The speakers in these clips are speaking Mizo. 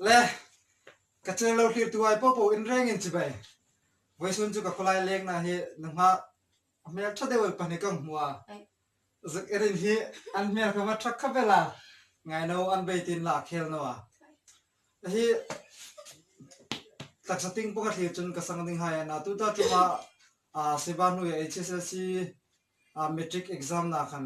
Le, ka cheng lo hlirtu ai pawh pawh in reng in chibai. Vawisun chu ka khawlai leng na hi na hma hmel tha deuh pahnih ka hmu a, zuk i rin hi an hmel kha hma thak khawp e la, ngai no an bei tin la a khel no a. A hi taksa ting pawh ka thlir chun ka sang ding hai a na tu ta tlung a siva hnu i hslc matric exam na khan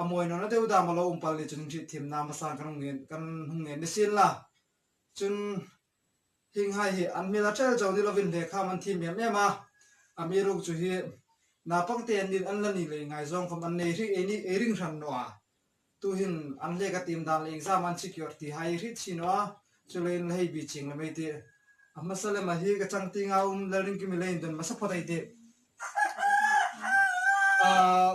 A mawi nawn a deuh dam a lo awm pal ni chuan in hrit thim na hmasa kan rawn ngen kan hung ngen ni sin la chun hing hai hi an hmel a ṭel chauh ni lo vin hle kha man thim em em a a mi ruk chu hi naupang te an din an la nih leh ngai zawng khawm an nei hrih ei ni ei ring hran nuah a tu hin an hlek a tim dan leh exam an secure ti hai hrih chhin aw a chu lei in la hei bih ching lo mai tih a hmasa lem ah hi ka chang ting a um lalring ki milai in dawn hmasa phawt a i tih ahh.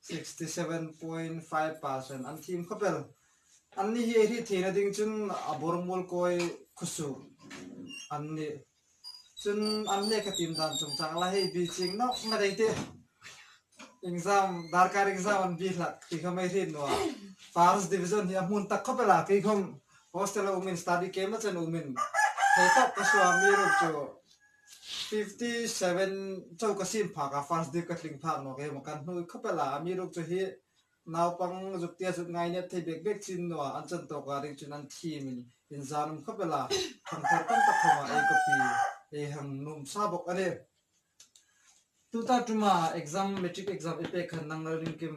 sixty seven point five percent an thim khawp el. An ni hi a hri theihna ding chun a bawr mual kawi khusuh an ni. Chun an lek a tim dan chung chang la, hei bi ching nawk ngat ei teh. Exam, darkar exam an bi hlah tih kha mai hrit nuah. First division hi a hmun tak khawp ela, kei khawm hostel a awmin study camp a chen awmin thei tawk ka hria mi erawh chu, Fifty seven chau ka sin phak a first dip ka tling phak nuak em kan hnu i khawp e la a mi ruk chu hi naupang zuktia zut ngainep thei bek bek chin nua an chan tawk a ring chin an thim in in zan awm khawp e la thangthar tam tak thawm ah ei ka pi ei han nuam sa bawk ani tun ta tum a exam matric exam i pek khan nang lo ring kim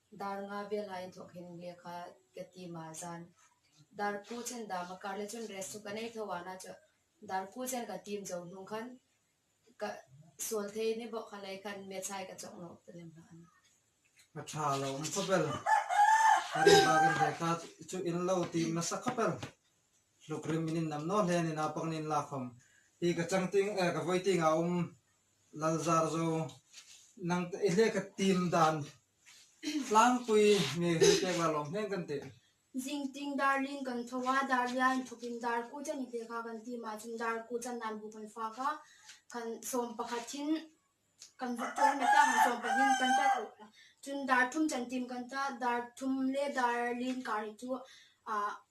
Dar nga vel ha in thawk hin nge kha ka ti mah zan. Dar pu chen dam a kar le chun rest chu ka nei tho a na chu dar pu chen ka tim zo hnung khan ka sual thei ni bawk kha lei khan maths ai ka chawk nawh ta lem hlauh a ni. Ka tha lo awm khaw ber ka ri bak in hei kha chu in lo tim nasa khaw ber hluk rim in in nam nawh hle a ni naupang nen in lak khawm ti ka chang ting eh ka vawi ting ah a awm. Lalzar zo, nang te i hleka tim dan tlangpui nge hi pek lai lawm hneng kan tih? Zingting darling kan tho a, Dahlia in thup in dar kut a ni ve kha kan ti mah chun dar kut a nan buk an fak a, kan sawm pakhatin kan vut tawh anih ta kan sawm pahnih kan ta tawh ta chun dar thum chan tim kan ta, dar thum leh dar lin kar hi chu ah.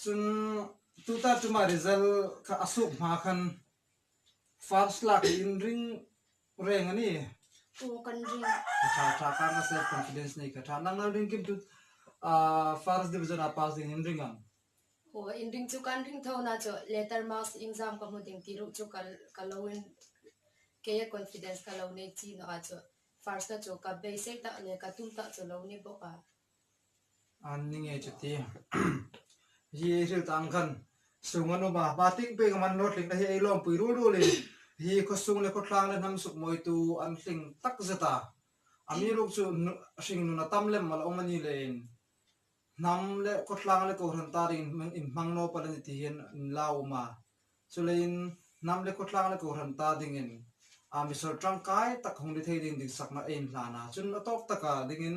Chun two ta tuma result kha a suk hma khan first lak hi in ring reng a ni? Aw kan ring. Ka tha tha khan ka self confidence nei ka tha. Nang nal ring kim tu first division a pass ding in ring ang? Aw in ring chu kan ring tho na chu letter marks in zam ka hmu ding ti ruh chu ka lo in kei a confidence ka lo nei chin a chu first a chu ka beisei tak leh ka tum tak chu lo ni bawk a. An ni nge chuti? Hi ei hrilh tan khan sung an awm a, hma tling pek a man lawr thleng na hi ei lawmpui rul rul in hi khawsung leh khawtlang leh hnam suk mawitu an hling tak zet a, a mi ruk chu hring nun a tam lem alo awm anih leh in hnam leh khawtlang leh kohhran tar in in hmang nawr pal ani tih hi an in la awm a, chu lei in hnam leh khawtlang leh kohhran tar ding in a misawl tangkai tak hawng ni thei ding dik sak na a in hlan a, chun a tawk tak ah ding in,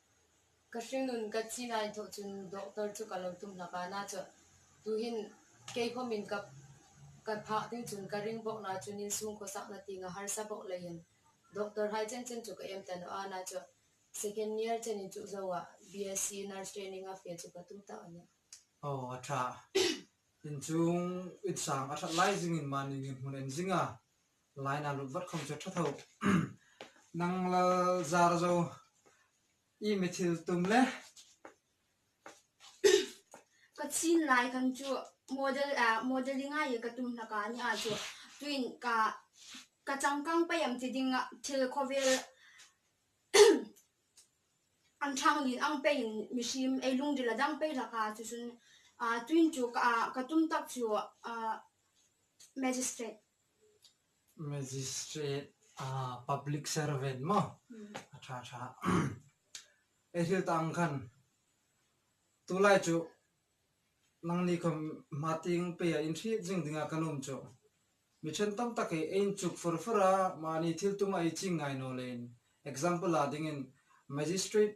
Ka hringnun ka chi nai thawh chun doctor chu ka lo tum hlak a, nâ chuan tuhin keikhawmin ka ka phah ding chun ka ring bawk nâ chuan in chhungkaw sakna tinga harsa bawk leiin doctor hai chen chen chu ka em ta loh a, nâ chuan second year chenin chuh zoah BSC nurse training a fe chu ka tum ta ania. Aw a tha, inchung insang a that lai zingin mahni miin hmun en zinga Line ah lut vat khawm che tha tho. Nang lal zar zo i mi thil tum le. Ka chin lai khan chu model a modeling a i ka tum hna ka nih ah chu tuin ka ka changkang paih ang ti ding ah thil khawvel an thang lin ang paih in mi hrim ei lungdil a dang paih hlaka chu chun tuin chu ka tum tak chu magistrate Magistrate a public servant maw a tha tha e thil ta ang khan tu lai chu nang ni khaw hma ting pay a in hrih zing ding a ka lawm chu mi then tam tak hi a in chuk fur fur a mahni thil tum a i ching ngai naw le in example ah ding in magistrate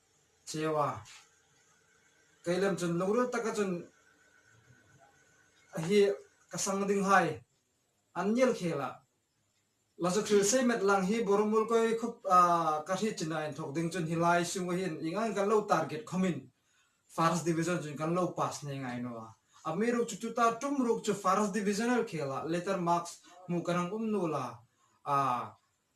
Cheu a, keilam chun lungrual taka chun a hi ka sang ding hai an ngial khel a, Lazu thil sei met lang hi Boromul koi khup a ka hri chin ah in thawk ding chun hilai sunga hian eng angin kan lo target khawm in First Division chu kan lo pass hneh ngai nu a, a mi ruk chu chuta tum ruk chu First Divisional khel ah letter marks hmuh kan ang um nu la a,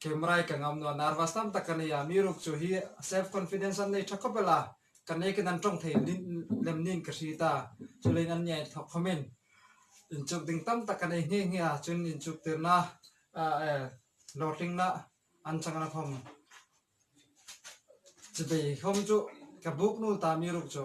Camera hi ka ngam nuah, nervous tam tak ka nei a, mi ruk chu hi self confidence an nei tha khawp ila, ka nei ka nan tawng thei lem niin ka hri ta, chulai in an nia inthawk khawm in inchuk ding tam tak ka nei nghe nghe a, chuan in inchuk tirna eh hlawhtlinna an chang nang khawm chibei khawm chu ka buk nul ta mi ruk chu.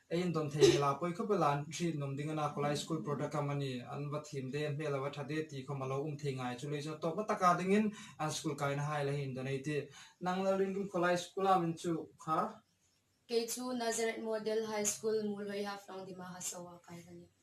Ei in dawn thei hmel a, pawi khawp ila an hriat nawm ding a na, khawlai school product a mani, an va thim daih a hmel a va tha daih a ti kho ma lo, um thei ngai chu lei chuan tawpna taka dingin an school kaina hai la hi in donate hi. Nang lo ringkim khawlai school a min chu kha. Kei chu Nazareth Model High School Muhlawi Hafrang Dima Hasawa a kai va ni.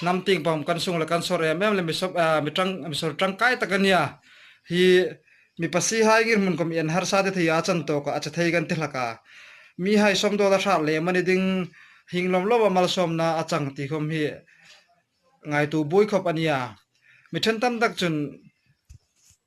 Hnam ting pawm kan sung leh kan sawr em em le mi sawp ah mi tang mi sawr tangkai tak a nia hi mi pasi hai ngir hmun kawm ian harsa te thei a chan tawk ah a che thei kan ti hlak a mi hai sawm dawt a hrat leh mani ding hing lawm lawm a malsawm na a chang ti khawm hi ngai tu bui khawp a nia mi then tam tak chun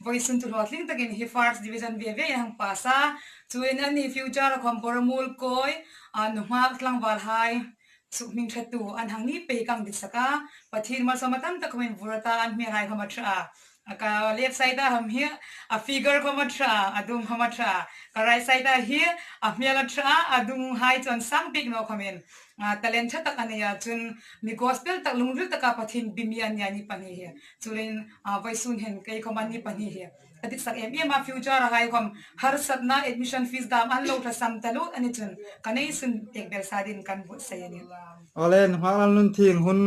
Voice Sun Tulua tling takin hi first division ve ve in an pass a, chuin an nih future a khawmpawr a mul kawi a, nu nghak tlangval hai suh hming that tu an hang ni pei ka ang disak a, Pathin malsawm a tam tak khawm in vur ata an hmel hai khawm a tha a, a ka left side a ham hi a figure khawm a tha a, a dum khawm a tha a, ka right side a hi a hmel a tha a, a dung hai chuan sang bik no khawm in talent tha tak a nei a, chun mi gospel tak lungzil taka Pathin bimi an nia ni pahnih hi Churin Vaisun hian kei khawm an ni pahnih hi a diksak em em a, future-a hai khawm harsatna admission fees dam an lo hlasam ta lut a ni chun ka nei sun pek ber sa din kan vawt sai a ni. Awle, nghah lam nun thil hun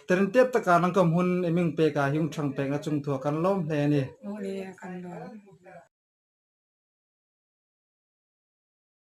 ter in tiat taka nan khawm hun i ming pek ah hi ung chang pek na chung thu a kan lawm hle a ni. Awle, a kan lawm.